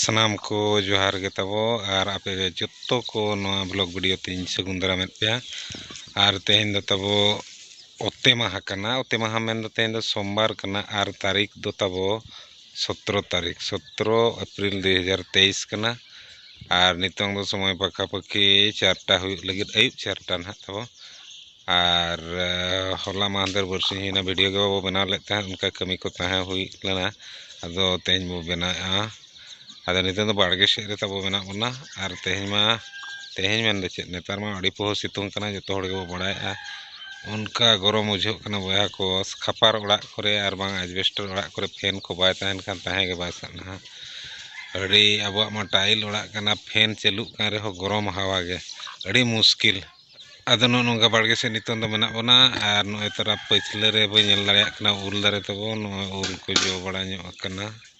ᱥᱟᱱᱟᱢ ᱠᱚ ᱡᱚᱦᱟᱨ ᱜᱮ ᱛᱟᱵᱚ ᱟᱨ ᱟᱯᱮ ᱡᱚᱛᱚ ᱠᱚ ᱱᱚᱣᱟ ᱵᱞᱚᱜ ᱵᱷᱤᱰᱤᱭᱳ ᱛᱤᱧ ᱥᱟᱹᱜᱩᱱ ᱫᱟᱨᱟᱢᱮᱫ ᱯᱮᱭᱟ ᱟᱨ ᱛᱮᱦᱮᱧ ᱫᱚ ᱛᱟᱵᱚ ᱚᱛᱮ ᱢᱟᱦᱟ ᱠᱟᱱᱟ ᱚᱛᱮ ᱢᱟᱦᱟ ᱢᱮᱱᱫᱚ ᱛᱮᱦᱮᱧ ᱫᱚ ᱥᱳᱢᱵᱟᱨ ᱠᱟᱱᱟ ᱟᱨ ᱛᱟᱹᱨᱤᱠᱷ ᱫᱚ ᱛᱟᱵᱚ ᱥᱚᱛᱨᱚ ᱛᱟᱹᱨᱤᱠᱷ ᱥᱚᱛᱨᱚ ᱮᱯᱨᱤᱞ ᱫᱩᱭ ᱦᱟᱡᱟᱨ ᱛᱮᱭᱤᱥ ᱠᱟᱱᱟ ᱟᱨ ᱱᱤᱛᱚᱝ ᱫᱚ ᱥᱚᱢᱚᱭ ᱯᱟᱠᱷᱟ ᱯᱟᱹᱠᱷᱤ ᱪᱟᱨᱴᱟ ᱦᱩᱭᱩᱜ ᱞᱟᱹᱜᱤᱫ ᱟᱹᱭᱩᱵ ᱪᱟᱨᱴᱟ ᱱᱟᱦᱟᱜ ᱛᱟᱵᱚ ᱟᱨ ᱦᱚᱞᱟ ᱢᱟᱦᱫᱮᱨ ᱵᱟᱹᱨᱥᱤᱧ ᱦᱩᱭᱱᱟ ᱵᱷᱤᱰᱤᱭᱳ ᱜᱮ ᱵᱟᱵᱚ ᱵᱮᱱᱟᱣ ᱞᱮᱫ ᱛᱟᱦᱮᱸᱫ ᱚᱱᱠᱟ ᱠᱟᱹᱢᱤ ᱠᱚ ᱛᱟᱦᱮᱸ ᱦᱩᱭ ᱞᱮᱱᱟ ᱟᱫᱚ ᱛᱮᱦᱮᱧ ᱵᱚ ᱵᱮᱱᱟᱣᱮᱜᱼᱟ ᱟᱫᱚ ᱱᱤᱛᱚᱝ ᱫᱚ ᱵᱟᱲᱜᱮ ᱥᱮᱫ ᱨᱮ ᱛᱟᱵᱚ ᱢᱮᱱᱟᱜ ᱵᱚᱱᱟ ᱟᱨ ᱛᱮᱦᱮᱧ ᱢᱟ ᱛᱮᱦᱮᱧ ᱢᱮᱱᱫᱚ ᱪᱮᱫ ᱱᱮᱛᱟᱨ ᱢᱟ ᱟᱹᱰᱤ ᱯᱚᱦᱚ ᱥᱤᱛᱩᱝ ᱠᱟᱱᱟ ᱡᱚᱛᱚ ᱦᱚᱲ ᱜᱮᱵᱚ ᱵᱟᱲᱟᱭᱮᱜᱼᱟ ᱚᱱᱠᱟ ᱜᱚᱨᱚᱢ ᱵᱩᱡᱷᱟᱹᱜ ᱠᱟᱱᱟ ᱵᱚᱭᱦᱟ ᱠᱚ ᱠᱷᱟᱯᱟᱨ ᱚᱲᱟᱜ ᱠᱚᱨᱮ ᱟᱨ ᱵᱟᱝ ᱮᱰᱵᱮᱥᱴᱟᱨ ᱚᱲᱟᱜ ᱠᱚᱨᱮ ᱯᱷᱮᱱ ᱠᱚ ᱵᱟᱭ ᱛᱟᱦᱮᱱ ᱠᱷᱟᱱ ᱛᱟᱦᱮᱸ ᱜᱮ ᱵᱟᱭ ᱥᱟᱱᱟᱣᱟ ᱟᱹᱰᱤ ᱟᱵᱚᱣᱟᱜ ᱢᱟ ᱴᱟᱭᱤᱞ ᱚᱲᱟᱜ ᱠᱟᱱᱟ ᱯᱷᱮᱱ ᱪᱟᱹᱞᱩᱜ ᱠᱟᱱ ᱨᱮᱦᱚᱸ ᱜᱚᱨᱚᱢ ᱦᱟᱣᱟ ᱜᱮ ᱟᱹᱰᱤ ᱢᱩᱥᱠᱤᱞ ᱟᱫᱚ ᱱᱚᱜᱼᱚ ᱱᱚᱝᱠᱟ ᱵᱟᱲᱜᱮ ᱥᱮᱫ ᱱᱤᱛᱚᱝ ᱫᱚ ᱢᱮᱱᱟᱜ ᱵᱚᱱᱟ ᱟᱨ ᱱᱚᱜᱼᱚᱭ ᱛᱚᱨᱟ ᱯᱟᱹᱪᱷᱞᱟᱹ ᱨᱮ ᱵᱟᱹᱧ ᱧᱮᱞ ᱫᱟᱲᱮᱭᱟᱜ ᱠᱟᱱᱟ ᱩᱞ ᱫᱟᱨᱮ ᱛᱟᱵᱚᱱ ᱱᱚᱜᱼᱚᱭ ᱩᱞ ᱠᱚ ᱡᱚ ᱵᱟᱲᱟ ᱧᱚᱜ ᱟᱠᱟᱱᱟ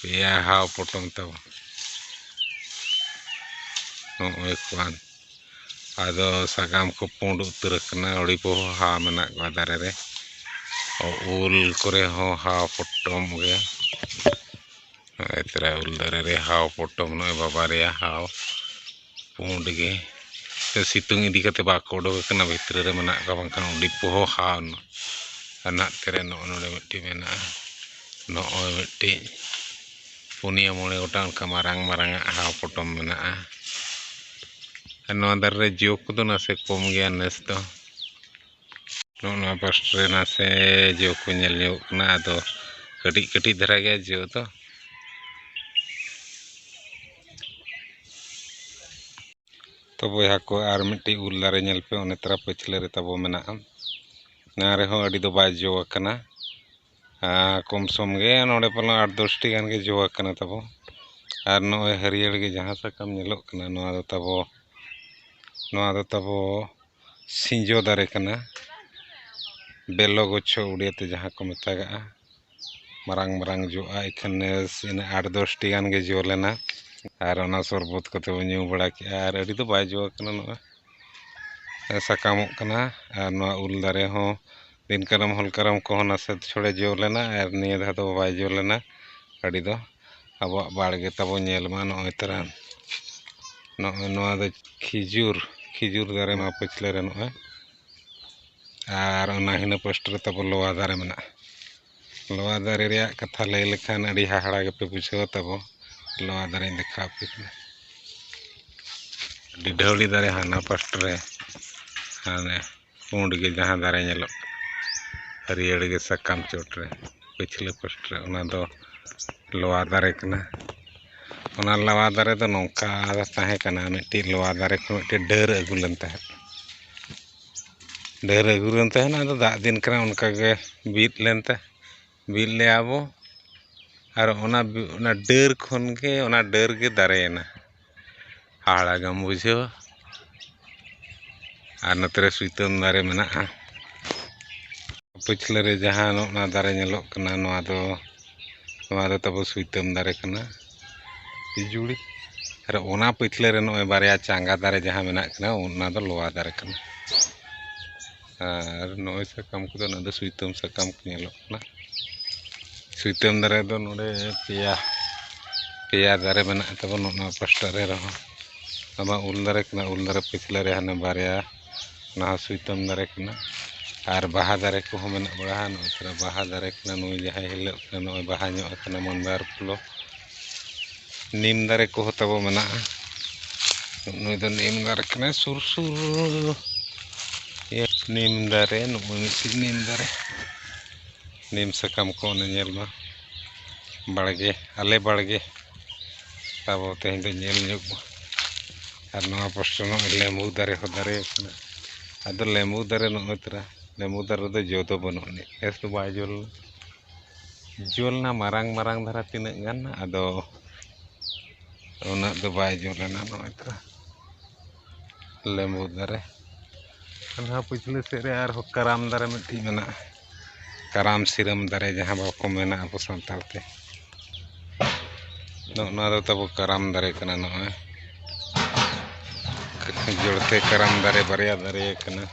ᱯᱮᱭᱟ ᱦᱟᱣ ᱯᱚᱴᱚᱢ ᱛᱟᱵᱚᱱ ᱱᱚᱜᱼᱚᱭ ᱠᱚᱣᱟᱱ ᱟᱫᱚ ᱥᱟᱠᱟᱢ ᱠᱚ ᱯᱩᱸᱰ ᱩᱛᱟᱹᱨ ᱟᱠᱟᱱᱟ ᱟᱹᱰᱤ ᱵᱚᱦᱚ ᱦᱟᱣ ᱢᱮᱱᱟᱜ ᱠᱚᱣᱟ ᱫᱟᱨᱮ ᱨᱮ ᱩᱞ ᱠᱚᱨᱮ ᱦᱚᱸ ᱦᱟᱣ ᱯᱚᱴᱚᱢ ᱜᱮ ᱱᱚᱜᱼᱚᱭ ᱛᱚᱨᱟ ᱩᱞ ᱫᱟᱨᱮ ᱨᱮ ᱦᱟᱣ ᱯᱚᱴᱚᱢ ᱱᱚᱜᱼᱚᱭ ᱵᱟᱵᱟᱨᱭᱟ ᱦᱟᱣ ᱯᱩᱸᱰ ᱜᱮ ᱥᱮ ᱥᱤᱛᱩᱝ ᱤᱫᱤ ᱠᱟᱛᱮᱫ ᱵᱟᱠᱚ ᱩᱰᱩᱠ ᱟᱠᱟᱱᱟ ᱵᱷᱤᱛᱨᱤ ᱨᱮ ᱢᱮᱱᱟᱜ ᱠᱚᱣᱟ ᱵᱟᱝᱠᱷᱟᱱ ᱟᱹᱰᱤ ᱯᱚᱦᱚᱼᱦᱟ ᱟᱱᱟᱜ ᱛᱮᱨᱮ ᱱᱚᱜᱼᱚ ᱱᱚᱰᱮ ᱢᱤᱫᱴᱤᱡ ᱢᱮᱱᱟᱜᱼᱟ ᱱᱚᱜᱼᱚᱭ ᱢᱤᱫᱴᱤᱡ ᱯᱩᱱᱭᱟᱹ ᱢᱚᱬᱮ ᱜᱚᱴᱟᱝ ᱚᱱᱠᱟ ᱢᱟᱨᱟᱝ ᱢᱟᱨᱟᱝ ᱟᱜ ᱦᱟᱣ ᱯᱚᱴᱚᱢ ᱢᱮᱱᱟᱜᱼᱟ ᱟᱨ ᱱᱚᱣᱟ ᱫᱟᱨᱮ ᱨᱮ ᱡᱚ ᱠᱚᱫᱚ ᱱᱟᱥᱮ ᱠᱚᱢ ᱜᱮᱭᱟ ᱱᱮᱥ ᱫᱚ ᱱᱚᱜᱼᱚ ᱱᱚᱣᱟ ᱯᱟᱥᱴ ᱨᱮ ᱱᱟᱥᱮ ᱡᱚ ᱠᱚ ᱧᱮᱞ ᱧᱚᱜᱚᱜ ᱠᱟᱱᱟ ᱟᱫᱚ ᱠᱟᱹᱴᱤᱡ ᱠᱟᱹᱴᱤᱡ ᱫᱷᱟᱨᱟ ᱜᱮᱭᱟ ᱡᱚ ᱫᱚ ᱛᱚ ᱵᱚᱭᱦᱟ ᱠᱚ ᱟᱨ ᱢᱤᱫᱴᱤᱡ ᱩᱞ ᱫᱟᱨᱮ ᱧᱮᱞ ᱯᱮ ᱚᱱᱮ ᱛᱟᱨᱟ ᱯᱟᱹᱪᱷᱞᱟᱹ ᱨᱮ ᱛᱟᱵᱚ ᱢᱮᱱᱟᱜᱼᱟ ᱱᱚᱣᱟ ᱨᱮᱦᱚᱸ ᱟᱹᱰᱤ ᱫᱚ ᱵᱟᱭ ᱡᱚ ᱟᱠᱟᱱᱟ ᱟᱨ ᱠᱚᱢ ᱥᱚᱢ ᱜᱮ ᱱᱚᱰᱮ ᱯᱟᱞᱮᱱ ᱟᱴ ᱫᱚᱥᱴᱤ ᱜᱟᱱ ᱜᱮ ᱡᱚ ᱟᱠᱟᱱᱟ ᱛᱟᱵᱚ ᱟᱨ ᱱᱚᱜᱼᱚᱭ ᱦᱟᱹᱨᱭᱟᱹᱲ ᱜᱮ ᱡᱟᱦᱟᱸ ᱥᱟᱠᱟᱢ ᱧᱮᱞᱚᱜ ᱠᱟᱱᱟ ᱱᱚᱣᱟ ᱫᱚ ᱛᱟᱵᱚ ᱱᱚᱣᱟ ᱫᱚ ᱛᱟᱵᱚ ᱥᱤᱸᱡᱚ ᱫᱟᱨᱮ ᱠᱟᱱᱟ ᱵᱮᱞᱚ ᱜᱩᱪᱷᱚ ᱩᱲᱤᱭᱟ ᱛᱮ ᱡᱟᱦᱟᱸ ᱠᱚ ᱢᱮᱛᱟᱜᱟᱜᱼᱟ ᱢᱟᱨᱟᱝ ᱢᱟᱨᱟᱝ ᱡᱚᱜᱼᱟ ᱮᱱᱠᱷᱟᱱ ᱱᱮᱥ ᱤᱱᱟᱹ ᱟᱴ ᱫᱚᱥᱴᱤ ᱜᱟᱱ ᱜᱮ ᱡᱚ ᱞᱮᱱᱟ ᱟᱨ ᱚᱱᱟ ᱥᱚᱨᱵᱚᱛ ᱠᱚᱛᱮ ᱵᱚᱱ ᱧᱩ ᱵᱟᱲᱟ ᱠᱮᱜᱼᱟ ᱟᱨ ᱟᱹᱰᱤ ᱫᱚ ᱵᱟᱭ ᱡᱚ ᱟᱠᱟᱱᱟ ᱱᱚᱜᱼᱚᱭ ᱥᱟᱠᱟᱢᱚᱜ ᱠᱟᱱᱟ ᱟᱨ ᱱᱚᱣᱟ ᱩᱞ ᱫᱟᱨᱮ ᱦᱚᱸ ᱫᱤᱱ ᱠᱟᱨᱟᱢ ᱦᱚᱞ ᱠᱟᱨᱟᱢ ᱠᱚᱦᱚᱸ ᱱᱟᱥᱮ ᱪᱷᱚᱲᱮ ᱡᱚ ᱞᱮᱱᱟ ᱟᱨ ᱱᱤᱭᱟᱹ ᱫᱷᱟᱣ ᱫᱚ ᱵᱟᱭ ᱡᱚ ᱞᱮᱱᱟ ᱟᱹᱰᱤ ᱫᱚ ᱟᱵᱚᱣᱟᱜ ᱵᱟᱲᱜᱮ ᱛᱟᱵᱚᱱ ᱧᱮᱞ ᱢᱟ ᱱᱚᱜᱼᱚᱭ ᱛᱚᱨᱟ ᱱᱚᱜᱼᱚᱭ ᱱᱚᱣᱟ ᱫᱚ ᱠᱷᱤᱡᱩᱨ ᱠᱷᱤᱡᱩᱨ ᱫᱟᱨᱮ ᱱᱚᱣᱟ ᱯᱟᱹᱪᱷᱞᱟᱹ ᱨᱮ ᱱᱚᱜᱼᱚᱭ ᱟᱨ ᱚᱱᱟ ᱦᱤᱱᱟᱹ ᱯᱟᱥᱴᱟ ᱨᱮ ᱛᱟᱵᱚᱱ ᱞᱚᱣᱟ ᱫᱟᱨᱮ ᱢᱮᱱᱟᱜᱼᱟ ᱞᱚᱣᱟ ᱫᱟᱨᱮ ᱨᱮᱭᱟᱜ ᱠᱟᱛᱷᱟ ᱞᱟᱹᱭ ᱞᱮᱠᱷᱟᱱ ᱟᱹᱰᱤ ᱦᱟᱦᱟᱲᱟ ᱜᱮᱯᱮ ᱵᱩᱡᱷᱟᱹᱣᱟ ᱛᱟᱵᱚ ᱞᱚᱣᱟ ᱫᱟᱨᱮᱧ ᱫᱮᱠᱷᱟᱣ ᱟᱯᱮ ᱠᱟᱱᱟ ᱰᱤᱰᱷᱟᱹᱣᱲᱤ ᱫᱟᱨᱮ ᱦᱟᱱᱟ ᱯᱟᱥᱴᱟ ᱨᱮ ᱦᱟᱱᱮ ᱯᱩᱸᱰ ᱜᱮ ᱡᱟᱦᱟᱸ ᱫᱟᱨᱮ ᱧᱮᱞᱚᱜ ᱠᱟᱱᱟ ᱦᱟᱹᱨᱭᱟᱹᱲ ᱜᱮ ᱥᱟᱠᱟᱢ ᱪᱚᱴ ᱨᱮ ᱯᱟᱹᱪᱷᱞᱟᱹ ᱯᱟᱥᱴᱟ ᱨᱮ ᱚᱱᱟ ᱫᱚ ᱞᱚᱣᱟ ᱫᱟᱨᱮ ᱠᱟᱱᱟ ᱚᱱᱟ ᱞᱚᱣᱟ ᱫᱟᱨᱮ ᱫᱚ ᱱᱚᱝᱠᱟ ᱛᱟᱦᱮᱸ ᱠᱟᱱᱟ ᱢᱤᱫᱴᱤᱡ ᱞᱚᱣᱟ ᱫᱟᱨᱮ ᱠᱷᱚᱱ ᱢᱤᱫᱴᱤᱡ ᱰᱟᱹᱨ ᱟᱹᱜᱩ ᱞᱮᱱ ᱛᱟᱦᱮᱸᱫ ᱰᱟᱹᱨ ᱟᱹᱜᱩ ᱞᱮᱱ ᱛᱟᱦᱮᱱᱟ ᱟᱫᱚ ᱫᱟᱜ ᱫᱤᱱ ᱠᱟᱱᱟ ᱚᱱᱠᱟᱜᱮ ᱵᱤᱫ ᱞᱮᱱᱛᱮ ᱵᱤᱫ ᱞᱮᱫᱼᱟ ᱵᱚ ᱟᱨ ᱚᱱᱟ ᱚᱱᱟ ᱰᱟᱹᱨ ᱠᱷᱚᱱ ᱜᱮ ᱚᱱᱟ ᱰᱟᱹᱨ ᱜᱮ ᱫᱟᱨᱮᱭᱮᱱᱟ ᱦᱟᱦᱟᱲᱟ ᱜᱮᱢ ᱵᱩᱡᱷᱟᱹᱣᱟ ᱟᱨ ᱱᱚᱛᱮ ᱨᱮ ᱥᱩᱭᱛᱟᱹᱢ ᱫᱟᱨᱮ ᱢᱮᱱᱟᱜᱼᱟ ᱯᱟᱹᱪᱷᱞᱟᱹ ᱨᱮ ᱡᱟᱦᱟᱸ ᱱᱚᱜᱼᱱᱟ ᱫᱟᱨᱮ ᱧᱮᱞᱚᱜ ᱠᱟᱱᱟ ᱱᱚᱣᱟ ᱫᱚ ᱱᱚᱣᱟ ᱫᱚ ᱛᱟᱵᱚ ᱥᱩᱭᱛᱟᱹᱢ ᱫᱟᱨᱮ ᱠᱟᱱᱟ ᱯᱤᱡᱩᱲᱤ ᱟᱨ ᱚᱱᱟ ᱯᱟᱹᱪᱷᱞᱟᱹ ᱨᱮ ᱱᱚᱜᱼᱚᱭ ᱵᱟᱨᱭᱟ ᱪᱟᱸᱜᱟ ᱫᱟᱨᱮ ᱡᱟᱦᱟᱸ ᱢᱮᱱᱟᱜ ᱠᱤᱱᱟ ᱚᱱᱟ ᱫᱚ ᱞᱚᱣᱟ ᱫᱟᱨᱮ ᱠᱟᱱᱟ ᱟᱨ ᱱᱚᱜᱼᱚᱸᱭ ᱥᱟᱠᱟᱢ ᱠᱚᱫᱚ ᱱᱚᱣᱟ ᱫᱚ ᱥᱩᱭᱛᱟᱹᱢ ᱥᱟᱠᱟᱢ ᱠᱚ ᱧᱮᱞᱚᱜ ᱠᱟᱱᱟ ᱥᱩᱭᱛᱟᱹᱢ ᱫᱟᱨᱮ ᱫᱚ ᱱᱚᱰᱮ ᱯᱮᱭᱟ ᱯᱮᱭᱟ ᱫᱟᱨᱮ ᱢᱮᱱᱟᱜ ᱛᱟᱵᱚᱱᱟ ᱚᱱᱟ ᱯᱟᱥᱴᱟ ᱨᱮ ᱨᱮᱦᱚᱸ ᱟᱭᱢᱟ ᱩᱞ ᱫᱟᱨᱮ ᱠᱟᱱᱟ ᱩᱞ ᱫᱟᱨᱮ ᱯᱟᱹᱪᱷᱞᱟᱹ ᱨᱮ ᱦᱟᱱᱮ ᱵᱟᱨᱭᱟ ᱚᱱᱟ ᱦᱚᱸ ᱥᱩᱭᱛᱟᱹᱢ ᱫᱟᱨᱮ ᱠᱟᱱᱟ ᱟᱨ ᱵᱟᱦᱟ ᱫᱟᱨᱮ ᱠᱚᱦᱚᱸ ᱢᱮᱱᱟᱜ ᱵᱟᱲᱟᱣᱟ ᱱᱚᱜᱼᱚᱸᱭ ᱛᱚᱨᱟ ᱵᱟᱦᱟ ᱫᱟᱨᱮ ᱠᱟᱱᱟ ᱱᱩᱭ ᱡᱟᱦᱟᱸᱭ ᱦᱤᱞᱟᱹᱜ ᱠᱟᱱᱟ ᱱᱚᱜᱼᱚᱸᱭ ᱵᱟᱦᱟ ᱧᱚᱜ ᱠᱟᱱᱟ ᱢᱟᱫᱟᱨ ᱯᱷᱩᱞᱚᱜ ᱱᱤᱢ ᱫᱟᱨᱮ ᱠᱚᱦᱚᱸ ᱛᱟᱵᱚ ᱢᱮᱱᱟᱜᱼᱟ ᱱᱩᱭ ᱫᱚ ᱱᱤᱢ ᱫᱟᱨᱮ ᱠᱟᱱᱟᱭ ᱥᱩᱨ ᱥᱩᱨ ᱱᱤᱢ ᱫᱟᱨᱮ ᱱᱩᱠᱩ ᱢᱤᱫᱴᱤᱡ ᱱᱤᱢ ᱫᱟᱨᱮ ᱱᱤᱢ ᱥᱟᱠᱟᱢ ᱠᱚ ᱚᱱᱮ ᱧᱮᱞ ᱢᱟ ᱵᱟᱲᱜᱮ ᱟᱞᱮ ᱵᱟᱲᱜᱮ ᱛᱟᱵᱚ ᱛᱮᱦᱮᱧ ᱫᱚ ᱧᱮᱞ ᱧᱚᱜ ᱢᱟ ᱟᱨ ᱱᱚᱣᱟ ᱯᱟᱥᱴᱟ ᱱᱚᱜᱼᱚᱭ ᱞᱮᱢᱵᱩ ᱫᱟᱨᱮ ᱦᱚᱸ ᱫᱟᱨᱮ ᱟᱠᱟᱱᱟ ᱟᱫᱚ ᱞᱮᱢᱵᱩ ᱫᱟᱨᱮ ᱱᱚᱜᱼᱚᱭ ᱛᱚᱨᱟ ᱞᱮᱢᱵᱩ ᱫᱟᱨᱮ ᱨᱮᱫᱚ ᱡᱚ ᱫᱚ ᱵᱟᱹᱱᱩᱜ ᱟᱹᱱᱤᱡ ᱱᱮᱥ ᱫᱚ ᱵᱟᱭ ᱡᱚ ᱞᱮᱱᱟ ᱡᱩᱞ ᱮᱱᱟ ᱢᱟᱨᱟᱝ ᱢᱟᱨᱟᱝ ᱫᱷᱟᱨᱟ ᱛᱤᱱᱟᱹᱜ ᱜᱟᱱ ᱟᱫᱚ ᱩᱱᱟᱹᱜ ᱫᱚ ᱵᱟᱭ ᱡᱩᱞ ᱞᱮᱱᱟ ᱱᱚᱜᱼᱚᱭ ᱛᱚ ᱞᱮᱵᱩ ᱫᱟᱨᱮ ᱚᱱᱟ ᱯᱤᱪᱷᱞᱟᱹ ᱥᱮᱫ ᱨᱮ ᱟᱨᱦᱚᱸ ᱠᱟᱨᱟᱢ ᱫᱟᱨᱮ ᱢᱤᱫᱴᱤᱡ ᱢᱮᱱᱟᱜᱼᱟ ᱠᱟᱨᱟᱢ ᱥᱤᱨᱟᱹᱢ ᱫᱟᱨᱮ ᱡᱟᱦᱟᱸ ᱵᱟᱠᱚ ᱢᱮᱱᱟ ᱟᱵᱚ ᱥᱟᱱᱛᱟᱲ ᱛᱮ ᱱᱚᱜᱼᱚ ᱱᱚᱣᱟ ᱫᱚ ᱛᱟᱵᱚ ᱠᱟᱨᱟᱢ ᱫᱟᱨᱮ ᱠᱟᱱᱟ ᱱᱚᱜᱼᱚᱭ ᱡᱚᱲᱛᱮ ᱠᱟᱨᱟᱢ ᱫᱟᱨᱮ ᱵᱟᱨᱭᱟ ᱫᱟᱨᱮ ᱠᱟᱱᱟ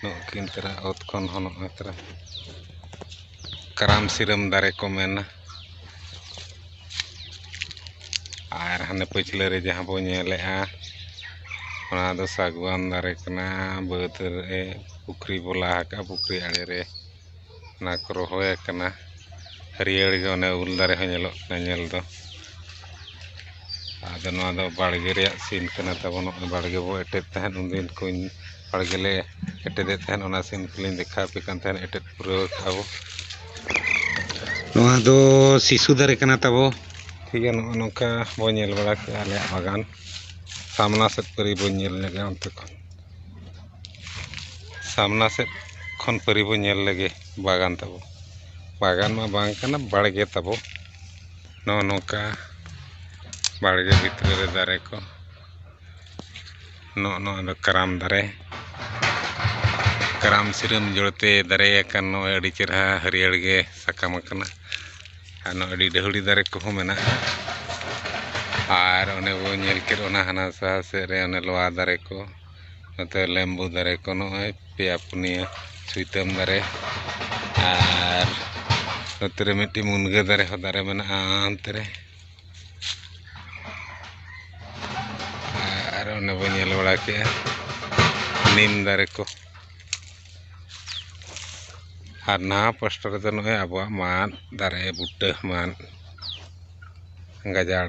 ᱱᱩᱠᱤᱱ ᱛᱚᱨᱟ ᱚᱛ ᱠᱷᱚᱱ ᱦᱚᱸ ᱱᱚᱜᱼᱚᱸᱭ ᱛᱚᱨᱟ ᱠᱟᱨᱟᱢ ᱥᱤᱨᱟᱹᱢ ᱫᱟᱨᱮ ᱠᱚ ᱢᱮᱱᱟ ᱟᱨ ᱦᱟᱱᱮ ᱯᱟᱹᱪᱷᱞᱟᱹ ᱨᱮ ᱡᱟᱦᱟᱸ ᱵᱚᱱ ᱧᱮᱞᱮᱜᱼᱟ ᱚᱱᱟ ᱫᱚ ᱥᱟᱹᱜᱩᱣᱟᱱ ᱫᱟᱨᱮ ᱠᱟᱱᱟ ᱵᱟᱹᱫᱽ ᱨᱮ ᱯᱩᱠᱷᱨᱤ ᱵᱚᱱ ᱞᱟ ᱟᱠᱟᱜᱼᱟ ᱯᱩᱠᱷᱨᱤ ᱟᱬᱮ ᱨᱮ ᱚᱱᱟ ᱠᱚ ᱨᱚᱦᱚᱭ ᱟᱠᱟᱱᱟ ᱦᱟᱹᱨᱭᱟᱹᱲ ᱜᱮ ᱚᱱᱮ ᱩᱞ ᱫᱟᱨᱮ ᱦᱚᱸ ᱧᱮᱞᱚᱜ ᱠᱟᱱᱟ ᱧᱮᱞ ᱫᱚ ᱟᱫᱚ ᱱᱚᱣᱟ ᱫᱚ ᱵᱟᱲᱜᱮ ᱨᱮᱭᱟᱜ ᱥᱤᱱ ᱠᱟᱱᱟ ᱛᱟᱵᱚᱱ ᱱᱚᱜᱼᱚᱭ ᱵᱟᱲᱜᱮ ᱵᱚ ᱮᱴᱮᱫ ᱛᱟᱦᱮᱸᱫ ᱩᱱ ᱫᱤᱱ ᱠᱚᱧ ᱵᱟᱲᱜᱮ ᱞᱮ ᱮᱴᱮᱫᱮᱫ ᱛᱟᱦᱮᱸᱫ ᱚᱱᱟ ᱥᱤᱱ ᱠᱚᱞᱤᱧ ᱫᱮᱠᱷᱟᱣ ᱟᱯᱮ ᱠᱟᱱ ᱛᱟᱦᱮᱸᱫ ᱮᱴᱮᱫ ᱯᱩᱨᱟᱹᱣ ᱠᱟᱜᱼᱟ ᱵᱚ ᱱᱚᱣᱟ ᱫᱚ ᱥᱤᱥᱩ ᱫᱟᱨᱮ ᱠᱟᱱᱟ ᱛᱟᱵᱚ ᱴᱷᱤᱠ ᱜᱮᱭᱟ ᱱᱚᱜᱼᱚ ᱱᱚᱝᱠᱟ ᱵᱚ ᱧᱮᱞ ᱵᱟᱲᱟ ᱠᱮᱜᱼᱟ ᱟᱞᱮᱭᱟᱜ ᱵᱟᱜᱟᱱ ᱥᱟᱢᱱᱟ ᱥᱮᱫ ᱯᱟᱹᱨᱤ ᱵᱚᱱ ᱧᱮᱞ ᱧᱚᱜᱟ ᱚᱱᱛᱮ ᱠᱷᱚᱱ ᱥᱟᱢᱱᱟ ᱥᱮᱫ ᱠᱷᱚᱱ ᱯᱟᱹᱨᱤ ᱵᱚᱱ ᱧᱮᱞ ᱞᱮᱜᱮ ᱵᱟᱜᱟᱱ ᱛᱟᱵᱚ ᱵᱟᱜᱟᱱ ᱢᱟ ᱵᱟᱝ ᱠᱟᱱᱟ ᱵᱟᱲᱜᱮ ᱛᱟᱵᱚ ᱱᱚᱜᱼᱚ ᱱᱚᱝᱠᱟ ᱵᱟᱲᱜᱮ ᱵᱷᱤᱛᱨᱤ ᱨᱮ ᱫᱟᱨᱮ ᱠᱚ ᱱᱚᱜᱼᱚ ᱱᱚᱣᱟ ᱫᱚ ᱠᱟᱨᱟᱢ ᱫᱟᱨᱮ ᱠᱟᱨᱟᱢ ᱥᱤᱨᱟᱹᱢ ᱡᱚᱲᱛᱮ ᱫᱟᱨᱮ ᱟᱠᱟᱱ ᱱᱚᱜᱼᱚᱭ ᱟᱹᱰᱤ ᱪᱮᱦᱨᱟ ᱦᱟᱹᱨᱭᱟᱹᱲ ᱜᱮ ᱥᱟᱠᱟᱢ ᱟᱠᱟᱱᱟ ᱟᱨ ᱱᱚᱜᱼᱚᱭ ᱟᱹᱰᱤ ᱰᱟᱹᱦᱲᱤ ᱫᱟᱨᱮ ᱠᱚᱦᱚᱸ ᱢᱮᱱᱟᱜᱼᱟ ᱟᱨ ᱚᱱᱮ ᱵᱚᱱ ᱧᱮᱞ ᱠᱮᱫ ᱚᱱᱟ ᱦᱟᱱᱟ ᱥᱟᱦᱟ ᱥᱮᱫ ᱨᱮ ᱚᱱᱮ ᱞᱚᱣᱟ ᱫᱟᱨᱮ ᱠᱚ ᱱᱚᱛᱮ ᱞᱮᱢᱵᱩ ᱫᱟᱨᱮ ᱠᱚ ᱱᱚᱜᱼᱚᱭ ᱯᱮᱭᱟ ᱯᱩᱱᱭᱟᱹ ᱥᱩᱭᱛᱟᱹᱢ ᱫᱟᱨᱮ ᱟᱨ ᱱᱚᱛᱮ ᱨᱮ ᱢᱤᱫᱴᱤᱡ ᱢᱩᱱᱜᱟᱹ ᱫᱟᱨᱮ ᱦᱚᱸ ᱫᱟᱨᱮ ᱢᱮᱱᱟᱜᱼᱟ ᱚᱱᱛᱮ ᱨᱮ ᱟᱨ ᱚᱱᱮ ᱵᱚᱱ ᱧᱮᱞ ᱵᱟᱲᱟ ᱠᱮᱜᱼᱟ ᱱᱤᱢ ᱫᱟᱨᱮ ᱠᱚ ᱟᱨ ᱱᱟᱣᱟ ᱯᱟᱥᱴᱟ ᱨᱮᱫᱚ ᱱᱚᱜᱼᱚᱭ ᱟᱵᱚᱣᱟᱜ ᱢᱟᱫ ᱫᱟᱨᱮ ᱵᱩᱴᱟᱹ ᱢᱟᱫ ᱜᱟᱡᱟᱲ